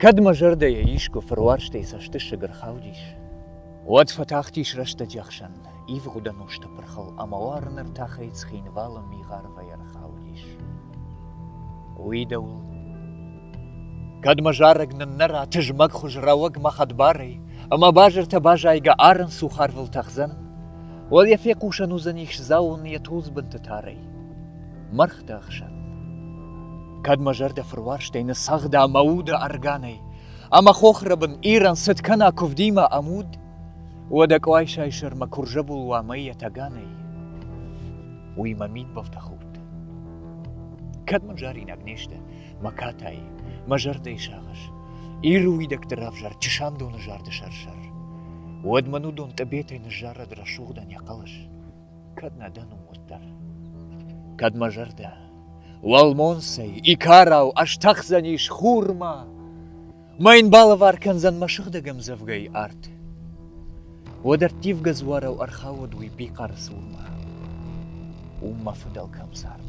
Кӕд мӕ зӕрдӕйӕ искуы фыруарзтӕй цӕстысыг ӕрхаудис, уӕд фӕтахтис рӕстӕджы ӕхсӕн. ивгъуыд ӕнусты пырхыл ӕмӕ уарыны ртахӕй Цхинвалы мигъарвӕй ӕрхаудис. Уый дӕуыл Кӕдмӕ зарӕг ныннӕра тызмӕгхуыз рӕуӕгмӕ хӕдбарӕй, ӕмӕ базыртӕ базайгӕ арын сух арвыл тӕхдзӕн? Уал йӕ фехъусӕн уыдзӕн ис дзауын йӕ тулдзбынты тарӕй. Мӕргъты ӕхсӕн. Кӕдмӕ зӕрдӕ фыруарзтӕй ныццагъда мӕ уды органӕй, ӕмӕ хохрӕбын Ирӕн цыд кӕна куывдимӕ ӕмуд? Уӕдӕ Къуайсайы сӕрмӕ курзӕбул уа мӕй Етӕганӕй, уый мӕ мидбӕлтӕ худт. Кӕд мын заринаг не сты, мӕ катай, мӕ зӕрдӕйы сагъӕс, Иры уидӕгты равзӕр чысандоны зарды сӕр-сӕр, уӕд мӕн уыдон тъыбетӕй ныззарӕд рӕсугъдӕн йӕ хъӕлӕс, кӕд нӕ дӕн уым уӕддӕр. Кӕд мӕ зӕрдӕ, уӕлмонцӕй, икарау ӕстӕхдзӕнис хурмӕ, Ма ин балӕвар кӕндзӕн мӕ сыгъдӕг ӕмдзӕвгӕй арт. Уӕд ӕрттивгӕ дзуарау ӕрхауӕдуй бихъӕры цурмӕ. У мӕ фыдӕлкӕм цард.